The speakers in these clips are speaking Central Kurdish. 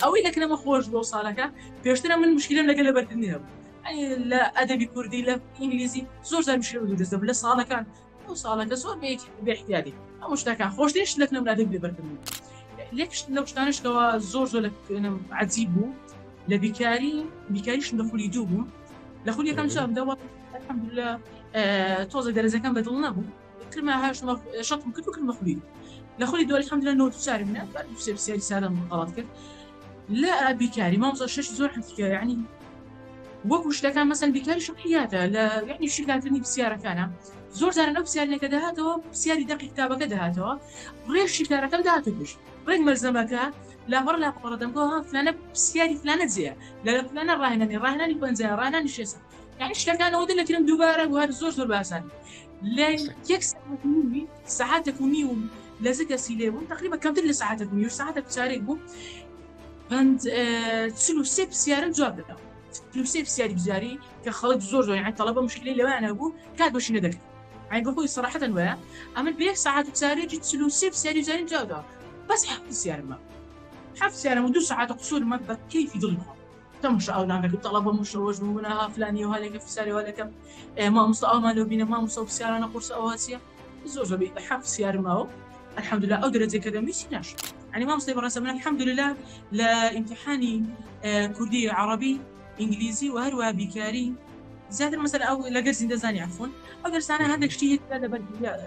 ئەوەی لە کرمە خۆش بۆ ساڵەکە پێشترە من مشکلم لەگە لە بەردنی هەبوو لە ئەدەبی کوردی لە ئینگلیزی زۆر زار مشکل دەستە لە ساڵەکان ئەو ساڵەکە زۆر بێحتیادی ئەو شتەکان خۆشتێش لە نم لادە بێبەردن لەکشت لەو شتانشتەوە زۆر زۆر لەم عجیب بوو لە بیکاری بیکاریشم لە خولی دوو بوو لە خولیەکان چم دەوە لە تۆزە دەرزەکەم بەدڵ نەبوو کرمە هاش مە شەتم کرد و کرمە خولی لە خولی دوای حمدە نۆ چار منە بەر سێ سیاری سارم غڵات کرد لە بیکاری مامزە شش زۆر حکیانی وەکو شتەکان مەسەن بیکاری شقیاتە لە یعنی شیکاتنی پرسیارەکانە زۆر جارە لەو پرسیارەکە دەهاتەوە پرسیاری دەقی کتابەکە دەهاتەوە ڕێ شیکارەکە داهاتە پێش ڕێک مەرزەمەکە لاپەڕ لاپەڕدەمەوە فلانە پرسیاری فلانە جێە لە فلانە ڕاهێنانی ڕاهێنانی پەنجە ڕانانی شێسە یعنی شتەکان ئەوەندە لەکرم دووبارە وهر زۆر زۆر باسان لە یەک سەعاتێک و نی و لە زە کەسی لێ بوو تقریبا کەمتر لە ساعتە بوو یو ساعتە بچارێک بوو پند چل و سێ پرسیارم جواب دەدا چل و سێ پرسیاری بزاری کە خەڵک زۆر زۆر یان تەڵەبە مشکلی لەوانە بوو کات بەشی نەدەکرد ئەین بە خۆی سەراحەتەن وایە ئەمن بە یەک ساعت و چارێکی چل و سێ پرسیاری زاریم جواب داوە بەس حەفت پرسیارمە حەفت پرسیارم و دوو ساعتە قسوورمە بە کەیفی دڵی خۆم تەماشا ئەو لاکە دوو تەڵەبە مشەوەش بوون بوونە ها فلانی و هەلێکە فساری و هەلێکە ئێ مامۆستا ئەومان لەو بینە مامۆستا و فسیارانە قورسە ئەوە چییە زۆر زۆر حەف فسیارمەوە الحمدلله ئەو درجە کە دەمویستی ناش ئەنی مامۆستی بەڕێسە من الحمدلله لە ئیمتحانی کوردی عربی ئینگلیزی و هەروە بیکاری زیاتر مەسەر ئەو لەگەر زیندە زانی عفون ئەو دەرسانە هەندێک شتی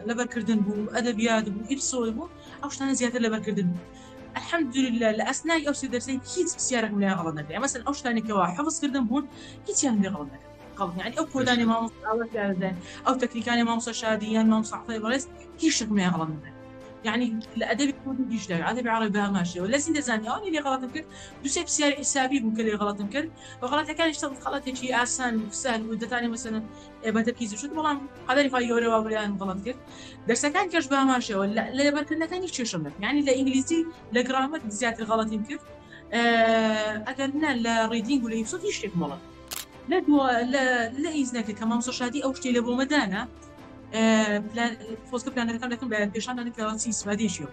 لەبەرکردن بوو ئەدەبیات بوو ئیپسۆل بوو ئەو شتانە زیاتر لەبەرکردن بوو الحمدللە لە ئەسنای ئەو سێ دەرسەی هیچ پرسیارێکم لێیان غەڵەت نەکرد یان مەسەلەن ئەو شتانەی کەوا حەفز کردم بوون هیچیان لێ غەڵەت نەکرد قەڵ یانی ئەو کۆدانی مامۆستا ئاوا تیان دەدەن ئەو تەکنیکانی مامۆستا شادی یان مامۆستا عەفەی بەڕێز هیچ شتێکم لێیان غەڵەت نەکرد یعنی لە ئەدەبی کوردی دیش دەوێت ئەدەبی عەڕەبی بە هەمان شێوە لە زیندە زانی ئەوانی لێ غەڵەتم کرد دوو سێ پرسیاری حیسابی بوو کە لێ غەڵەتم کرد و غەڵەتەکانیش چەند غەڵەتێکی ئاسان و سەهل و دەتانی مەسەلەن ئێبەتە پیس شت بەڵام قەدەری خی گەورە واوریان بەڵند کرد دەرسەکان کەش باماشەوە لە لەبەرکردنەکانی چێشم نەک ینی لە ئینگلیزی لە گرامەر زیاتر غەڵەتیم کرد ئەگەر نە لە ڕیدینگ و لە یوسفی شتێک مەڵە لە لە هیچ نەکە کە مامسە شادی ئەو شتی لە بۆمەدانە خۆزگە پلانەکان دەکەم بە پێشانانەکەەوە چی سوادێکیەوە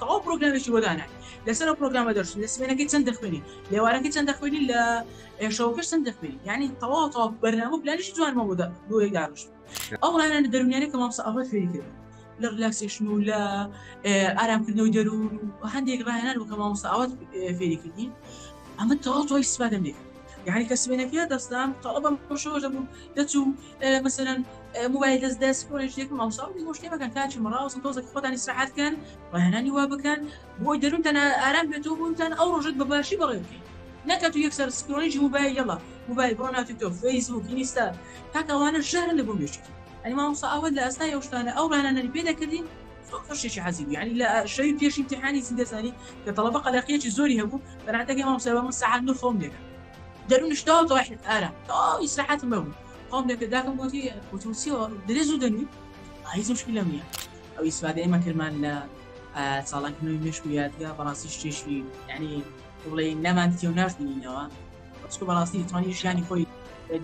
تەواو پرۆگرامێکی بۆ دانای لەسەر ئەو پرۆگرامە دەرچوو لە سمێنەکەی چەند دەخوێنی لێوارەکەی چەند دەخوێنی لە ئێشەوەکەش چەند دەخوێنی ینی تەواو تەواو بەرنامە پلانیشی جوانمە بۆدا بۆی داروش ئەو ڕانانە دەرونیانە کە مامسە ئەوە فێری کرد لە ریلاکسیشن و لە ئارامکردنەوەی دەروون و هەندێک ڕایانان و کە مامسە ئاوات فێری کردین ئەمە تەواو تۆی سپادەم لێ یعنی کە سمێنەکە دەستام تەڵبم پشەوە دەبوو دەچوو مەسەلەن موبایل دەست دەست کۆلێژێک ماوساڵ بۆ شتێ بەکەن کاچی مەڕاوسم تۆزێک خۆتانی سرحات بکەن وهێنانی وا بکەن بۆی دەروتەن ئارام بێتەوە بوونتان ئەو ڕۆژت بە باشی بەڕێ بکەین نەکە تو یەکسەر سکرۆنیی موبایل یەڵا موبایل بۆ ناتی تۆ فەیسبوک ئینستا تاکەوانە ژەرن لە بۆ مێشتی ئەنی مامۆسا ئەوە لە ئەستا یەشتانە ئەو ڕانانەری پێ دەکردین شتێکی حەزی ینی لە شەوی پێشی تحانی زیندەزانی کە تەڵەبە قەلەقیەکی زۆری هەبوو بەناتەکەی مامۆسای بە من سەعات نو خۆم دێکە دەرونش داو داوای حلف ئارا داو ئیسراحەتم بەبوو خۆم لە پێداکەم گوتی وتم چیەوە درێ زوو دەنوی ئایز مشکی لەم نیە ئەو ئیسفادە ئێمە کرمان لە چاڵانکردنەوەی مشک و یادگە بەڕاستی شتێشی ینی بڵێ نامان دیتێ و ناشبینینەوە بەچکو بەڕاستی توانی ژیانی خۆی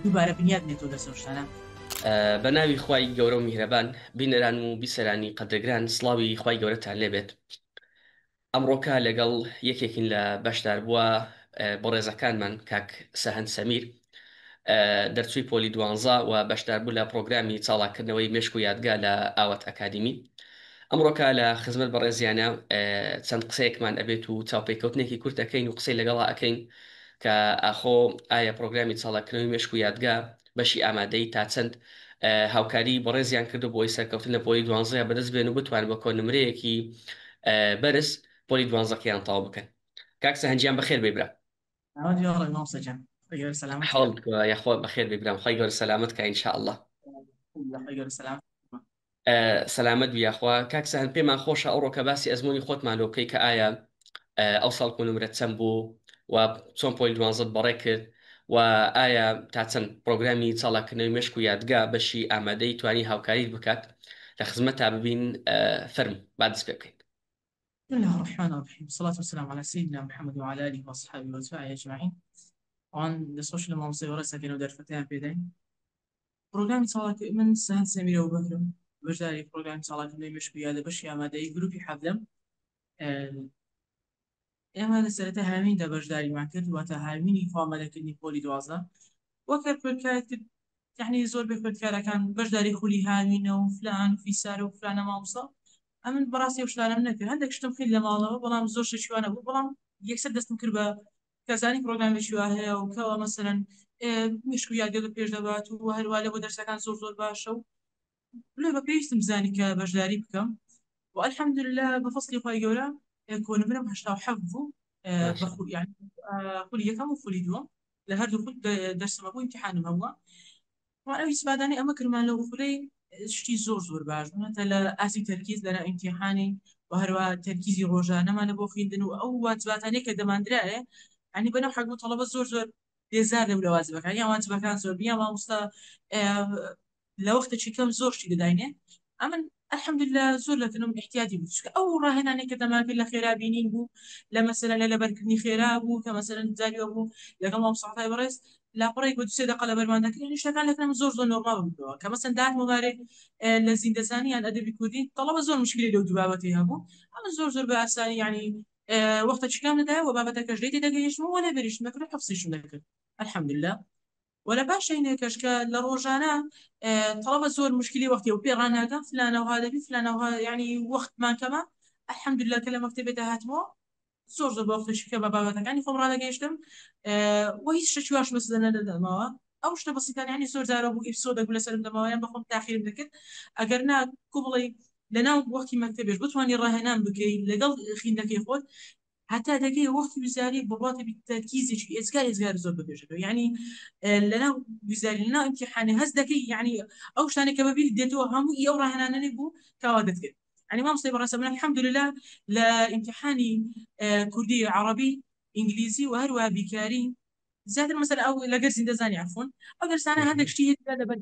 دووبارە بنیاد نێتەوە لە سەشتانە بە ناوی خی گەورە و میهرەبان بینەران و بیسەرانی قەدەگران سلاوی خی گەورەتان لێبێت ئەمڕۆکە لەگەڵ یەکێکین لە بەشداربووە بەڕێزەکانمان کاک سەهەند سەمیر دەرچووی پۆلی دوانزە و بەشداربوو لە پرۆگرامی چاڵاکردنەوەی مێشک و یادگا لە ئاوات ئەکادیمی ئەمڕۆکە لە خزمەت بەڕێزیانە چەند قسەیەکمان ئەبێت و چاوپێکەوتنێکی کورت ئەکەین و قسەی لەگەڵا ئەکەین کە ئاخۆ ئایا پرۆگرامی چاڵاکردنەوەی مێشک و یادگا بەشی ئامادەیی تا چەند هاوکاریی بەڕێزیان کردووە بۆ ئەوەی سەرکەوتن لە پۆلی دوانزەیان بەدەست بێن و بتوانن بە کۆنمرەیەکی بەرز پۆلی دوانزەکەیان تەواو بکەن. کاک سەهەند گیان بەخێر بێی برام. ناوت وێڵ بێ مامۆستا گیان خوای گەورە سەلامەت کات. حاڵت یاخوا بەخێر بێی برام خوای گەورە سەلامەت کا ان شاء اللە. الحمدللە خوای گەورە سەلامەت سەلامەت بی یاخوا کاک سەهەند پێمان خۆشە ئەوڕۆکە باسی ئەزمونی خۆتمان لۆ بکەی کە ئایا ئەو ساڵ کۆنمرە چەند بوو و چۆن پۆل دوانزەت بەڕێ کرد و ئایا تا چەند پرۆگرامی چاڵاکردنەوەی مشک و یادگا بەشی ئامادەی توانی هاوکاریت بکات لە خزمەت تا ببین فەرم با دەست پێ بکەین بسم الله الرحمن الرحيم والصلاة والسلام على سيدنا محمد وعلى آله وأصحابه وأتباعه أجمعين وان لە سۆشل مامۆسای وەڕێسەکەنەوە دەرفەتیان پێدەین پڕۆگرامی چالاکی من سەند سەمیرە و بەکرم بەشداری پڕۆگرامی چالاکردنەوەی مێشک و یادە بەشی ئامادەیی گروپی حەڤدەم ئێمە لە سەرەتا هاویندا بەشداریمان کرد واتە هاوینی خوامەلەکردنی پۆلی دوازدە وەک هەر خوێندکارێک تر یعنی زۆر بێ خوێندکارەکان بەشداری خولی هاوینە و فلان و فیسارە و فلانە مامۆستا ئەمن بەڕاستی و شتانەم نەکرد هەندێک شتم کرد لە ماڵەوە بەڵام زۆر شتێکی وا نەبوو بەڵام یەکسەر دەستم کرد بە کەسانی پرۆگرامێکی وا هەیە و کەوا مەسەلەن مشک و یادگە پێش دەبات و هەروە لە بۆ دەرسەکان زۆر زۆر باشە و لە بە پێویستم زانی کە بەشداری بکەم و الحمد لله بە فەسلی خۆی گەورە کۆنمرم هشتا و حەفت بوو خولی یەکەم و خولی دووەم لە هەردوو خود دەرسمە بوو امتحانم هەمووە وە ئەو ئیسفادانەی ئەمە کردمان لە وخولەی شتی زۆر زۆر باش بوون هەتا لە ئاستی تەرکیز لە ئیمتیحانی و هەروا تەرکیزی ڕۆژانەمان لە بۆ خویندن و ئەو واجباتانەی کە دەماندرایێ عنی بەنەو حەگ بوو تەڵەبە زۆر زۆر بێزار دەبوو لە واجبەکان یان واجبەکان زۆر بوو یان ماموستا لە وەختەکی کەم زۆر شتی دەداینێ ئەمن الحمدللە زۆر لە تەنم احتیاجی بوو چونکە ئەو ڕاهێنانێک کە دەمان کرد لە خێرا بینین بوو لە مەسەلەن لە لەبەرکردنی خێرا بوو کە مەسەلەن جاری ئەو بوو لەگەڵ مام سەعفای بەڕێز لاپەڕەیەک بە دوو سێ دەقە لەبەرمان دەکرد یانی شتەکان لە تەنم زۆر زۆر نۆرماڵ بووەوە کە مەسەلەن دار مبارێک لە زیندەزانی یان ئەدەبی کوردی تەڵەبە زۆر مشکلی لەو دوو بابەتەی هەبوو ئەمە زۆر زۆر بە ئاسانی یانی وەختە چیکام دەدایە و بابەتەکەش لێ تێدەگەیشتم و لێ بریشتم دەکرد و حفظیشم دەکرد الحمدللە وە لە پاش شینێکەش کە لە ڕۆژانە تەڵەبە زۆر مشکلی وەختی و پێ ڕاناگەم فلانە و هادەبی فلانە و یعنی وەختمان کەمە الحمدللە کە لە مەکتەبێ داهاتمەوە زۆر زۆر بە وەختە شکە بە بابەتەکانی خۆم ڕانەگەیشتم و هیچ شتێکی واش مەسەدە نەدەدەمەوە ئەو شتە بەسیتان یعنی زۆر جارە بوو ئیپسۆدە گولە سەرم دەمەوە یان بەخۆم تاخیرم دەکرد ئەگەر نا کو بڵێی لەناو وەختی مەکتەبێش بتوانانی ڕاهێنان بکەی لەگەڵ خیندەکەی خۆت هەتا دەگەی وەختی وزاری بەڵاتێ بیت تەرکیزێکی ئێجگار ئێجگار زۆر بەبێژێتەوە یانی لەناو وزاری لەناو ئیمتیحانێ هەست دەکەی یانی ئەو شتانێ کە بەبیرت دێتەوە هەموو ئی ئەو ڕاهێنانەنێ بوو کاوا دەتکرد یانی مامۆستای بەڕێزم الحمدللە لە ئیمتیحانی کوردی عەڕەبی ئینگلیزی و هەروەها بیرکاری زیاتر مەسەلە ئەو لەگەر زیندەزانی عەفوەن ئەو دەرسانە هەندێک شتی هەیە تیا لەبەر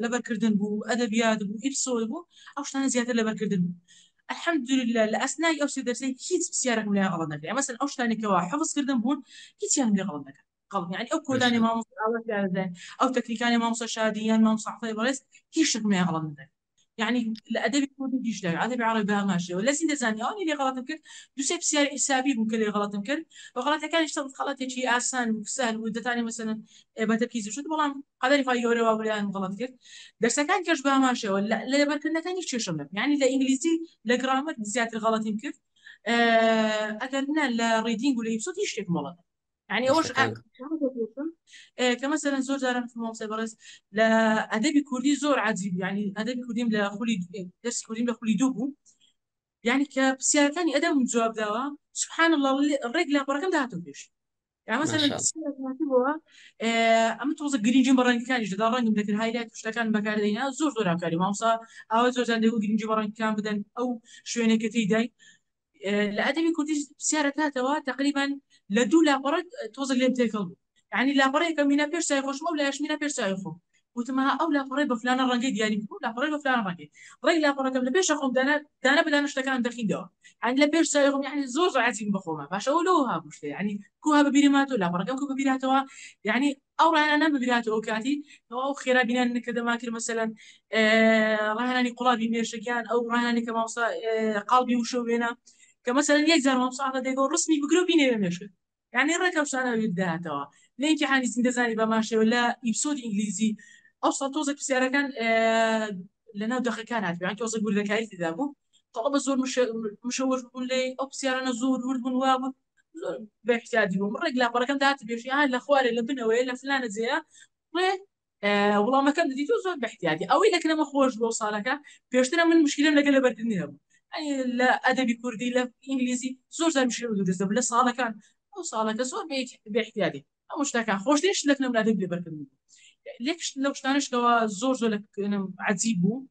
لەبەرکردن بوو ئەدەبیات بوو ئیپسۆد بوو ئەو شتانە زیاتر لەبەرکردن بوو الحمدلله لە ئەسنای ئەو سێ دەرسەی هیچ پرسیارێکم لێیان غەڵەت نەکرا مەسەن ئەو شتانی کەوا حفظ کردن بوون هیچیان لێ غەڵەت نەکرا قەڵ یعنی ئەو کۆدانی مامۆستا ئاوات یاردەن ئەو تەکنیکانی مامۆستا شادی یان مامۆستا عەتای بەڕێز هیچ شتێکم لێیان غەڵەت نەکرا یانی لە ئەدەبی کوردی بیشتر ئەدەبی عەڕەبی بە هەمان شێوە لە زین دەزانی ئەوانی لێ غەڵەتم کرد دوو سێ پرسیاری حیسابی بوو کە لێ غەڵەتم کرد و غەڵەتەکانیش تەڵ غەڵەتێکی ئاسان و سەهل بوو دەتانی مەسەلەن بە تەرکیز و شت بەڵام قەدەری خوای گەورە وا بوو لێیان غەڵەت کرد دەرسەکان کەش بە هەمان شێوە لە لەبەرکردنەکان هیچ کێشەم نەبوو یانی لە ئینگلیزی لە گرامەر زیاتر غەڵەتیم کرد ئەگەر نە لە ڕیدینگ و لە ئیپسۆد هیچ شتێکم وەڵە نەدا یعنی ئەوەش شتەکان کە مەسەرەن زۆر جاران مامۆستای بەڕێز لە ئەدەبی کوردی زۆر عجیب یعنی ئەدەبی کوردیم لە خولی دەرسی کوردیم لە خولی دوو بوو یعنی کە پرسیارەکانی ئەدەم جواب داوە سبحان الله ڕێک لە پەڕەکەم داهاتۆ پێش یعنی مەسەرەن ماشاءالله. پرسیارێک هاتبووە، ئێ، ئەمە تۆزە گرنگیم بە ڕەنگەکانیش دەدا ڕەنگم دەکرد هایلایت شتەکان بەکاردەینا زۆر زۆر هاکاری مامۆستا ئاوا زۆر جان دەگو گرنگی بە ڕەنگەکان بدەن ئەو شوێنێکەکەی دای لە ئەدەبی کوردیش پرسیارە کاتەوە تقریبا لە دوو لاپەڕە تۆزە لێم تێکەڵ بوو یعنی لاپەڕەیەکە مینە پێش چای خۆشمە و لایش مینە پێش چای خۆم وتم ها ئەو لاپەڕەی بە فلانە ڕەنگەی دیاری بوو لاپەڕەی بە فلانە ڕەنگەی ڕێی لاپەڕەکەم لە پێشە خۆم دانا دانە بە دانە شتەکانم دەخیندەوە یعنی لە پێش چای خۆم یعنی زۆر زۆر عەزیم بە خۆمە باشە ئەو لەوە هابوو شتێ یعنی کو ها بەبیرم هاتووە لاپەڕەکەم کو بەبیر هاتەوە یعنی ئەو ڕەهەنانە بگراتەوە ئەوکاتی ئەو ئەو خێرا بینان نەکە دەمان کرد مەسەلەن ڕەهەنانی قوڵابی مێشک یان ئەو ڕەهەنانی کە مامۆستا قاڵبی وشە وێنە کە مەسەلەن یەک جار مامۆستا ئەحمەد دەگۆ ڕسمی بگرە و بینێرە مێشکت یانی ڕێک ئەو شتانە بەبیر دەهاتەوە لە ئیمتیحانی زیندە زانی بەمان شێوە لە ئیپسۆدی ئینگلیزی ئەو ساڵ تۆزێک پرسیارەکان لەناو دەقەکان هاتبوو یان تۆزێک وردەکاری تێدا بوو تەڵەبە زۆر مشەوەش بوون لێی ئەو پرسیارانە زۆر ورد بوون وا بوون زۆر بەحسیادی بووم ڕێک لاپەڕەکەم دات بێژی ها لە خوارێ لە بنەوەیە لە فلانە جێە ڕێ وڵامەکەم دەدی تۆ زۆر بەحتیادی ئەوەی لەکرەمە خۆش بۆ ساڵەکە پێشترە من مشکلم لەگە لە بەردنی هەبوو لە ئەدەبی کوردی لە ئینگلیزی زۆر زار مشکل دروست بوو لە ساڵەکان ئەو ساڵەکە زۆر بێت بێحتیادی ئەو شتەکان خۆشترین شت لە فیلمدا دەبێ بەرکردن بوو لێک شت لەو شتانەش کەوا زۆر زۆر لە کەنم عەجیب بوو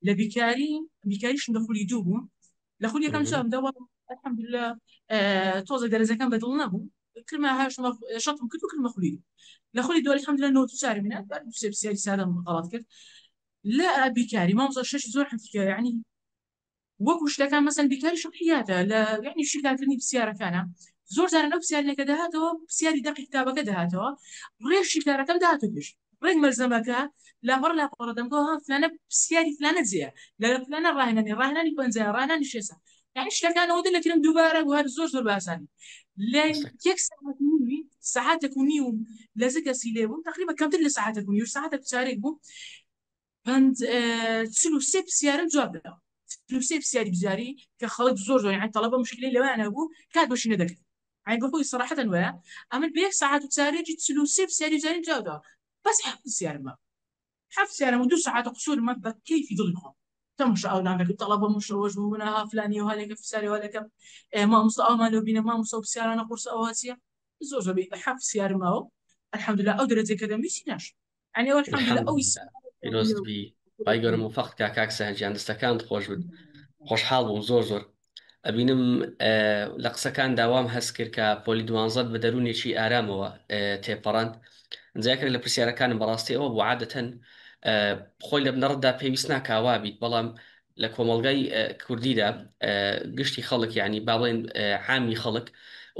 لە بیکاری بیکاریشم لە خولی دوو بوو لە خولی یەکەم چام دەوە الحمد لله تۆزە دەرەجەکەم بەدڵ نەبوو کرمە هاشتم شەتم کرد و کرمە خولی لە خولی دوو الحمد لله نۆ چار منات بەر سێ بسیاری سادەم غەڵات کرد لە بیکاری مامزە شەش زۆر حەتیکە یعنی وەکو شتەکان مەسەن بیکاری شەقحیاتە لە یعنی شیکارکردنی پرسیارەکانە زۆر جارە لەو پرسیارێکە دەهاتەوە پرسیاری دەقی کتابەکە دەهاتەوە ڕێ شیکارەکەم داهاتو پێش ڕێک مەلزەمەکە لاپەڕ لاپەڕە دەمگۆ ها فلانە پرسیاری فلانە جێە لە فلانە ڕاهێنانی ڕاهێنانی پەنجا ڕانانی شێسە یعنی شتەکانەوە دە لەکرم دووبارە وهر زۆر زۆر باسانی لە یەک ساعت و نیوی ساعتێک و نیوم لە زگەسی لێ بووم تقریبا کەمتر لە ساعتێک و نیو ساعتێک چارێک بوو پەند چل و سێ پرسیارم جواب داوە چل و سێ پرسیاری بزاری کە خەڵک زۆر زۆر یان تەڵەبە مشکلی لەویان هەبوو کات بەشی نەدەکرد ئەی بە خۆی سەراحەتەن وایە ئەمن بە یەک ساعات و چارێکی چل و سێ پرسیاری بزاری جواب داوە بەس هەفت پرسیارم بە هەفت پرسیارم و دوو ساعات قسوورمە بە کەیفی دڵی خۆم تەماشا ئەولان دەکرد تەڵەبە مشەوەش بوون ها فلانی و هەلێکە پرسیاری وا دەکەم مامۆستا ئەومان لەو بینە مامۆستا و پرسیارانە قورسە ئەوە چییە زۆر زۆر بە هەفت پرسیارم ئەو الحمدلله ئەو دەرەجەی کە دەم هیچی ناشم ئەنێ الحمد لله ئەوی سا پیرۆزت بی بای گەورە موفەقت کا کاک سەهەر گیان دەستەکانت خۆش بن خۆشحاڵ بووم زۆر زۆر ئەبینم لە قسەکان داوام هەست کرد کە پۆلی دوانزەت بە دەروونێکی ئارامەوە تێپەڕان جاکرێک لە پرسیارەکانم بەڕاستی ئەوە بۆ عادەتەن خۆی لە بنەڕەتدا پێویست ناکاوا بیت بەڵام لە کۆمەڵگای کوردیدا گشتی خەڵک یعنی با بڵێن عامی خەڵک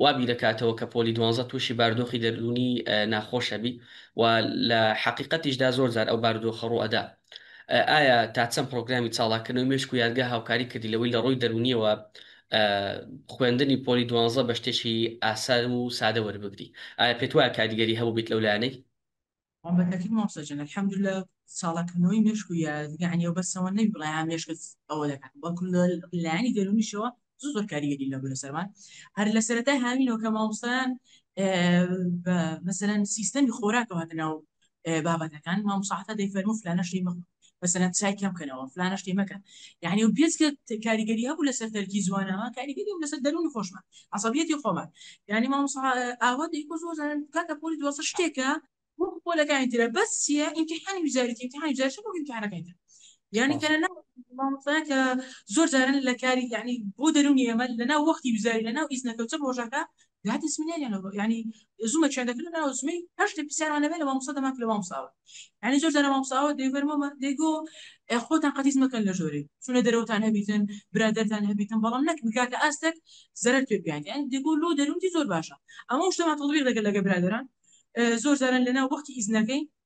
وا بیر دەکاتەوە کە پۆلی دوانزە تووشی بارودۆخی دەروونی ناخۆش ئەبی و لە حەقیقەتیشدا زۆر جار ئەو بارودۆخە ڕوو ئەدا ئایا تا چەند پرۆگرامی چاڵاکردنەوەی مێشک و یادگە هاوکاری کردی لەوەی لە ڕووی دەروونیەوە خوێندنی پۆلی دوانزە بە شتێکی ئاسان و سادە وەربگری ئایا پێت وایە کاریگەری هەبوو بیت لەو لایەنەی بەتاکید مامۆستا گیان الحمدللە چاڵاک کردنەوەی مێشک و یادگانیەوە بەس ئەوە نەبی بڵێ ها مێشکت ئەوە دەکات بەڵکو لە لایەنی دەروونیشەوە زۆر زۆر کاریگەری لەبوو لە سەرمان هەر لە سەرەتای هاوینەوە کە مامۆستایان بە مەسەرەن سیستەمی خۆراکەوە هاتنەوە بابەتەکان مامۆستا حەتا دەیفەرموو فلانە شەی مەخۆ مەسەلەن چای کەم کەنەوە فلانە شتی مەکەن یەعنی ئەم پێنج کە کاریگەری هەبوو لەسەر تەرکی زوانەوە کاریگەری هەبوو لەسەر دەروونی خۆشمان عەسەبیەتی خۆمان یەعنی مامۆستا ئاوات دەیگوت زۆر جاران کاکە پۆلی دوازدە شتێکە وەکو پۆلەکانی ترە بەس چییە ئیمتیحانی وزاریەتی ئیمتیحانی وزاری چۆن وەکو ئیمتیحانەکانی تر یەعنی کە لەناو مامۆستایە کە زۆر جاران لە کاری یەعنی بۆ دەروونی ئێمە لەناو وەختی وزاری لەناو ئیزنەکە و چەپ ڕۆژەکە داتی سمینێریان لەو یعنی زومە چێن دەکردن ناو زمەی هەر شتێک پرسیاران لەبێ لە مامۆستا دەمات لە مامۆستاوە یعنی زۆر جارە مامۆستاوە دەیڤەرمەوە دەیگۆ خۆتان قەتیس مەکەن لە ژۆرێ چونە دەرەوەتان هەبیتن برادەرتان هەبیتن بەڵام نەک بگاتە ئاستێک زەرەر پێ بیان یان دەگۆ لۆ دەروونی زۆر باشە ئەمە شتەمان تەڵبیق دەکرد لەگە برادەران زۆر جاران لەناو وەختی ئیزنەکەی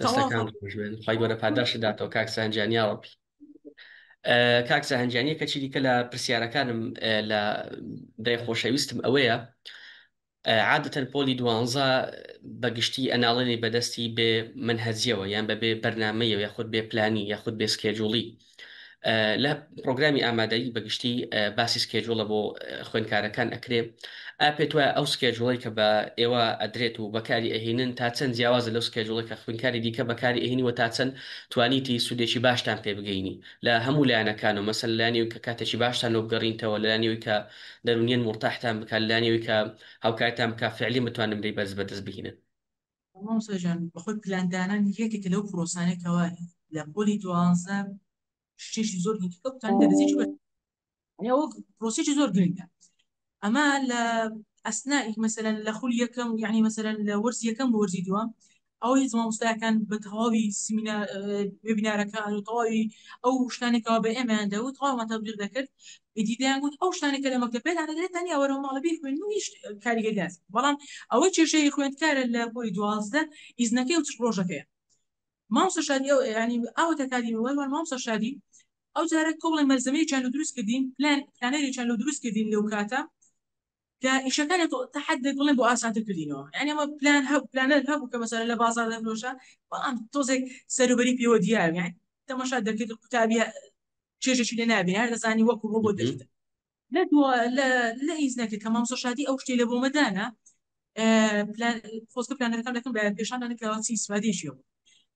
دەستەکان ژێن خی گەورە پاداشت داتەوە کاک سانجانیاوە بی کاک سەهنجانیە کەچی دیکە لە پرسیارەکانم لە دای خۆشەویستم ئەوەیە عادەتەن پۆلی دوانزە بەگشتی ئەناڵێنی بەدەستی بێ من هەزیەوە یان بەبێ بەرنمەیە یاخود بێ پلانی یاخود بێ سکێجوڵی لە پرۆگرامی ئامادەیی بە گشتی باسی سکێجوڵە بۆ خوێنکارەکان ئەکرێ ئا پێت وایە ئەو سکێجوڵی کە بە ئێوە ئەدرێت و بەکاری ئەهینن تا چەند جیاوازە لەو سکێجوڵی کە خوینکاری دیکە بەکاری ئەهینی وە تا چەند توانیتی سوودێکی باشتان پێ بگەینی لە هەموو لایەنەکان و مەسەن لانیوی کە کاتێکی باشتان لۆ بگەڕینتەوە لانیوی کە دەرونیان مرتاحتان بکات لانیوی کە هاوکارتان بکە فعلی متوانن بی بەرز بەدەست بهینن مامۆستا گیان بەخۆی پلان دانان یەکێکە لەو پرۆسانەی کەوا لە پۆلی دوازدە شتێکی زۆر گرنگی کەوتان دەرزێکی بە یعنی ئەوە پرۆسێکی زۆر گرنگە ئەما لە ئەسنائیک مەسەلەن لە خول یەکەم و یعنی مەسەلەن لە وەرز یەکەم بۆ وەرزی دووەم ئەو هیچ مامۆستایەکان بە تەواوی سیمینا وێبینارەکان و تەواوی ئەو شتانێکەوە بە ئێمەیان دەوت تەواومان تەبلیغ دەکرد ئیدی دەیان گوت ئەو شتانەی کە لە مەکتەب پێتان دەدرێت تەنیا وەرەوە ماڵە بیخوێن و هیچ کاریگەریان نیە بەڵام ئەوەی کێشەی خوێندکارە لە پۆلی دوازدە ئیزنەکەی و چ ڕۆژەکەیە مامۆستا شادی ئەو یعنی ئاوە تەکادیمی وای وان مامۆستا شادی ئەو جارە کۆڵی مەلزەمەیەکیان لە دروست کردین پلان پلانەرێکیان لە دروست کردین لەو کاتە کە ئیشەکە لە تەحەددێک بڵێن بۆ ئاسانتر کردینەوە یانی ئەمە پلان هەبوو پلانەر هەبوو کە مەسەلە لە بازار دەفرۆشە بەڵام تۆزێک سەروبەری پێوە دیار یان تەماشا دەکرد قوتابی چێژێکی لێ نابێ هەر دەزانی وەکو بۆ بۆ دەشت لە دو لە لە ئیز نەکرد کە مامسۆ شادی ئەو شتێ لە بۆ مەدانە خۆزگە پلانەکان دەکەم بە پێشاندا نکراوە چی سوادێکی بوو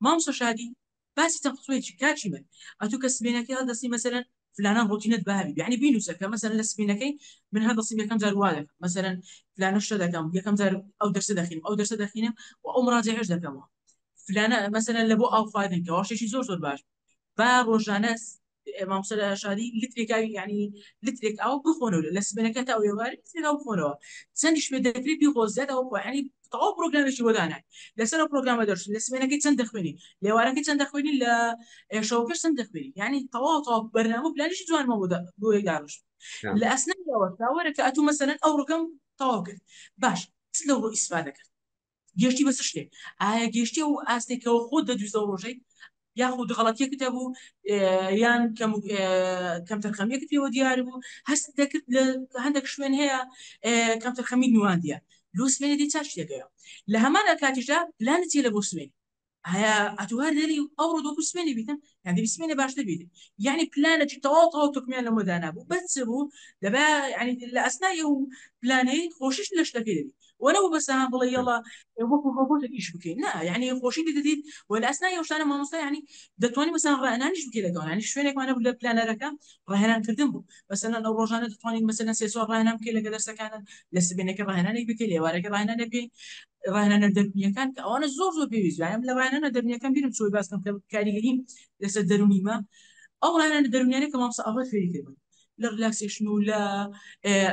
مامسۆ شادی باسی چەند قسوەی چی کاکی من ئەتو کە سبینەکەی هەڵدەسی مەسەلەن فلانان ڕۆتینت بابی یعنی بینوسە کە مەسەلەن لە سبینەکەی من هەڵدەسیم یەکەم جار وا دەکەم مەسەلەن فلانە شتە دەکەم یەکەم جار ئەو دەرسە دەخینم ئەو دەرسە دەخینم و ئەو مڕاجعەش دەکەمەوە فلانە مەسەلەن لە بۆ ئاو خواردن کەوا شتێکی زۆر زۆر باش با ڕۆژانە مامۆستا شادی لترێک ئاوی یعنی لترێک ئاو بخۆنەوە لە سبەنەکە تا ئێوار لترێک ئاو بخۆنەوە چەندیش پێ دەکرێت بیخۆ زیاد ئەو یعنی تەواو پرۆگرامێکی وەدانای لەسەر ئەو پرۆگرامە دەرچوون لە سبەنەکەی چەند دەخوێنی لێوارەکەی چەند دەخوێنی لە شەوەکەش چەند دەخوێنی یعنی تەواو تەواو بەرنامە و پلانیشی جوانمە بۆ بۆی داڕش لە ئەسنەوە تاوەرەکە ئەتوو مەسەرەن ئەو ڕگەم تەواو کرد باش چ لەو ڕۆ ئیسفادە کرد گەشتی بەس شتێک ئایا گەشتی و ئاستێکەوە خۆ دەدویستە ڕۆژەی یاخود غەڵەتیەکت هەبوو یان کەم تەرخەمیەکت پێوە دیار بوو هەست دەکرد لە هەندێک شوێن هەیە کەم تەرخەمی نواندە لۆ سوێنێ دی چاشتێکەیە لە هەمانە کاتیشدا پلانت چێ لە بۆ سوێن ئایا ئەتو هەر لەری ئەو ڕۆ دۆکو سمێنی بیتن یان دەبی سمێنێ باشتر بیتن یعنی پلانێکی تەواو تەواو تورکمیان لەمە دانابوو بەس چ بوو دەبا یعنی لە ئەسنای ئەو پلانەی خۆشیش لە شتەکەی دەبی وە نەبوو بەس هەم بڵێ یەڵا وەکو ڕۆبۆتێک ئیش بکەین نا یعنی خۆشی دەدیت و لە ئەسنای ئەو شتانە مامۆستا یعنی دەتوانی مەسەن ڕانانیش بکەی لەگەڵ یعنی شوێنێکمان نەبوو لە پلانەرەکە ڕاهێنانکردن بوو مەسەلەن ئەو ڕۆژانە دەتوانین مەسەلەن سێ چوار ڕاهێنان بکەی لەگە دەرسەکانت لە سبێنەکە ڕاهێنانێک بکەی لە ئێوارەکە ڕاهێنانێک بکەی ڕاهێنانە دەروونییەکان کە ئەوانە زۆر زۆر پێویست یانم لە ڕاهێنانە دەروونییەکان بیرم چۆی باس بکەم کە کاریگەری لەسەر دەروونیمە ئەو ڕاهێنانە دەروونیانە کە مامۆستا ئاڤا فێری کردم لە ریلاکسێشن و لە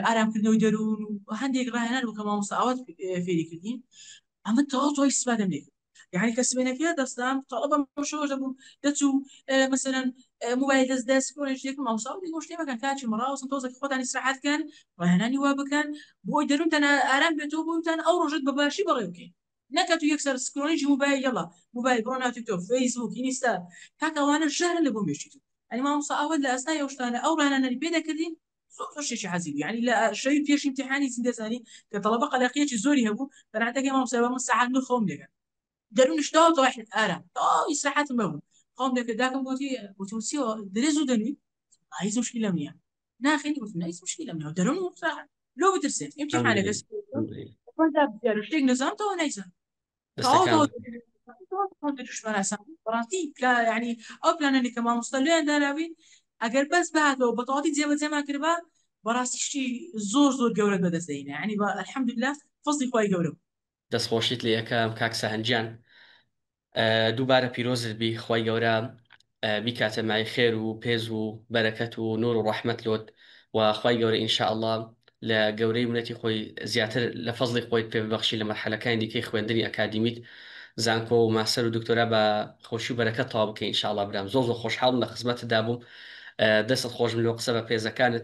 ئارامکردنەوەی دەروون و هەندێک ڕاهێنان بوو کە مامۆستا ئاوات فێری کردین ئەمە تەواو تۆی سپادەم لێ کرد یعنی کە سبێنەکە دەستام تەڵەبە شەوە دەبووم دەچوو مەسەرەن موبایل دەست دەست کۆنێشتێکم ئەوساڵی گۆشتێمەکەن کاچی مەڕاوسن تۆزێک خۆتانی سرعاتکەن ڕاهێنانی وا بکەن بۆی دەروونتان ئارام بێتەوە بۆیوتان ئەو ڕۆژەت بە باشی بەڕێ بکەین نەک ئەتوو یەک سەر سکرۆڵیجی موبایل یەڵا موبایل بڕۆ ناو تیک تۆک فەیس بووک ئینیستا کاکە ئەوانە ژەهرن لە بۆ مێشکی تۆ یانی مامۆستا ئەوەت لە ئەستای ئەو شتانە ئەو ڕانانەری پێ دەکردین زۆر زۆر شتێکی حەزی بوو یانی لە شەوی پێش ئیمتیحانی زیندەزانی کە تەڵەبە قەلەقیەکی زۆری هەبوو بەرانتەکەی مامۆستا بەمن سەعات نۆ خەوم دەگەن دەرونش داو داو حد ئارا داو ئیسراحەتم بەبوو خۆم دەکرد داکم گوتی وتم چی درێ زوو دەنوی هیچ مشکلەم نییە ناخێنی وتم هیچ مشکلەم نییە دەرون مستراحەت لۆ بترسێت ئیمتیحانەکە شتێک نزان تەوە نەیزان ڕاستی ینی ئەو پلانەنی کە مامۆستا لێیان داناوین ئەگەر بەس بهاتەوە بەتەواتی جێبەجێمان کردبا بەڕاستیشتی زۆر زۆر گەورە بەدەستدەینە ینی بە الحمدلله فەزی خی گەورە دەست خۆشیت لێ ئەکەم کاک سەهەند گیان دووبارە پیرۆزت بی خوای گەورە بیکاتە مای خێر و پێز و بەرەکەت و نور و ڕەحمەت لۆت و خوای گەورە ان شاء اللە لە گەورەی منەتی خۆی زیاتر لە فەزڵی خۆی پێ ببەخشی لە مەرحەلەکانی دیکەی خوێندنی ئەکادیمیت زانکۆ و ماستەر و دکتۆرا بە خۆشی و بەرەکەت تەواو بکەی ان شاء اللە برام زۆر زۆر خۆشحاڵم لە خزمەتتدا بووم دەستت خۆشبن لۆ قسە بە پێزەکانت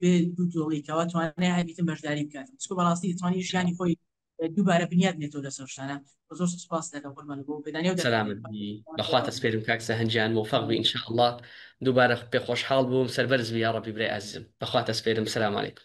بێ دوو تۆڵی کەوا توانای هەبیتن بەشداری بکات چکو بەڕاستی توانی ژیانی خۆی دووبارە بنیاد نێتەوە لەسەر شتانە زۆر سپاس دەکەم قوربان بۆ پێدانی و سەلامت بەخوا تەسپێرم کاک سەهەنجیان مۆفەق بی انشاء اللە دووبارە پێ خۆشحاڵ بووم سەربەرز بی یاڕەبی برای ئازیزم بەخوا تەسپێرم سەلام علیکم.